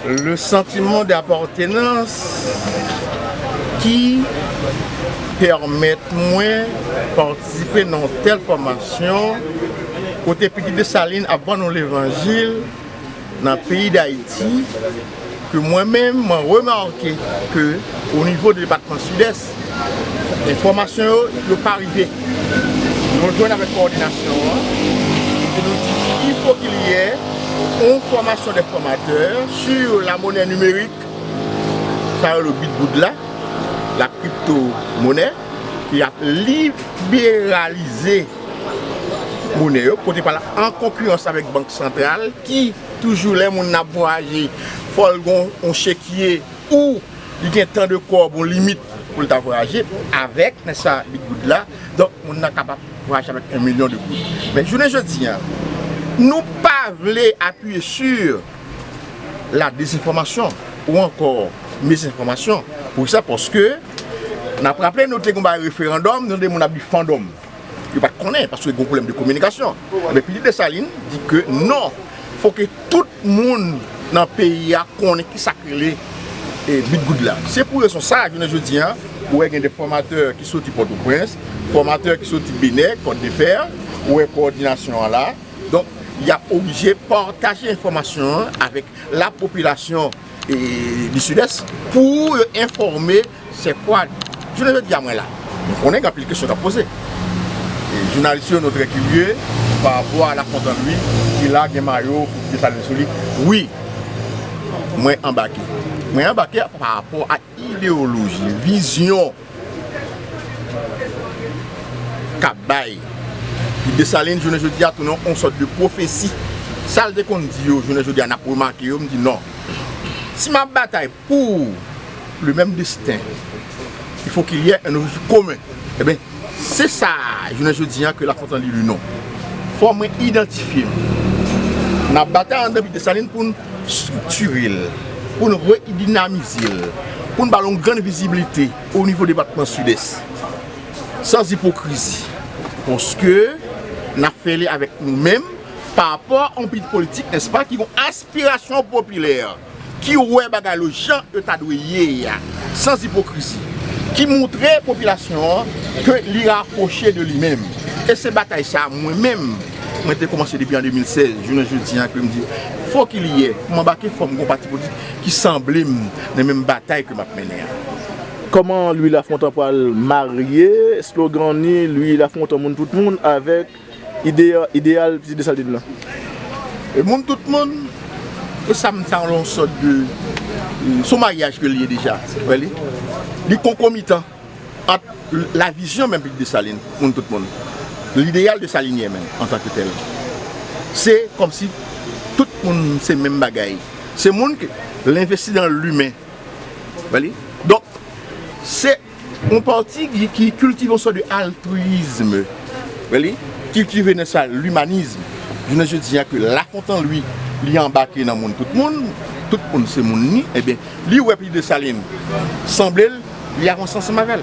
Le sentiment d'appartenance ki pèmèt mwen patisipe nan yon tèl fòmasyon kote Pitit Dessalines ap ban nou levanjil. Nan peyi Dayiti, ke mwen menm mwen remake ke o nivo de depatman Sidès, enfòmasyon yo, yo pa rive. Nou jwenn avèk kowòdinasyon an, ke nou di il fo ke li yè on fòmasyon dè fòmatè sur la monè nimerik, sa yo rele bitgoud la, la kripto monè, ke y ap liberalize. Monè yo pote pral an konkirans avèk bank santral ki toujou lè moun nan ap vwayaje fò l gen yon chekye ou li gen tan de kòb yon limit pou l ta vwayaje avèk men sa li goud la donk moun nan kapab vwayaje avèk 1 milyon de goud men jounen jodi a nou pa vle apiye si la dezenfòmasyon ou ankò mizenfòmasyon pou kisa paske n ap raple nou te gen yon bagay referandòm nou tande moun ap di fandòm. yo pat konnen paske gon pwoblèm de kominikasyon ebyen pitit Desalin di ke non fò ke tout moun nan peyi a konnen ki sa k rele Bit Goud la se pou rezon sa jounen jodi a ou wè gen de fòmatè ki soti Pòtoprens fòmatè ki soti Benè Kòt de Fè ou wè kowòdinasyon an la donk y ap oblije pataje enfòmasyon an avèk la popilasyon du Sud-Est pou yo enfòme Sè Kwad. Jounen jodi a mwen la. Nou konnen gen anpil kesyon k ap poze. Jounalis yo nou trè kirye pa rapò a La Fontant Louis ki la gen mayo Desalin sou li. Wi, mwen anbake. Mwen anbake pa rapò a. Ideyoloji, vizyon k ap bay pou Desalin jounen jodi a tounen yon sòt de pwofesi. Sa l te konn di yo jounen jodi a n ap remake yo, m di non. Si m ap batay pou le menm desten, il faut qu'il y ait un objectif commun. Enben, se sa jounen jodi a ke Lafontan li li non. Fò mwen idantifye m nan batay André pi Desalin pou n. striktire l, pou n redinamize l, pou n ba l yon grann viziblite o nivo depatman Sidès. San ipokrizi, paske n ap fè li avèk nou menm, pa rapò a yon pati politik, nèspa, ki gen yon aspirasyon popilè, ki wè bagay yo jan yo ta dwe ye a, san ipokrizi, ki montre popilasyon an ke li rapwoche de li menm. E se batay sa a mwen menm. Mwen te kòmanse depi an 2016, jounen jodi an ke m di, fò ki li yè, pou m anbake fò m gen yon pati politik ki sanble m nan menm batay ke m ap mennen an. Kòman Louis Lafontant pral marye slogan ni Louis Lafontant moun tout moun avèk ideyal Pitit Desalin nan? E moun tout moun, e sa m ta rele yon sòt de, se yon maryaj ke li ye deja, wè li? Li konkomitan. Ant la vizyon menm Pit Desalin pou moun tout moun, lideyal desalinyen menm antanke tèl, se kòmsi tout moun se menm bagay. Se moun ke l envesti nan limen. Wèli? Donk, se yon pati ki kiltive yon sòt de altriyizme. Wèli? Kiltive nan sa limanizm. Jounen jodi a ke lafontan li, li anbake nan moun tout moun, tout moun se moun li, enben, Li wè pi Dessalines sanble l li avans ansanm avè l.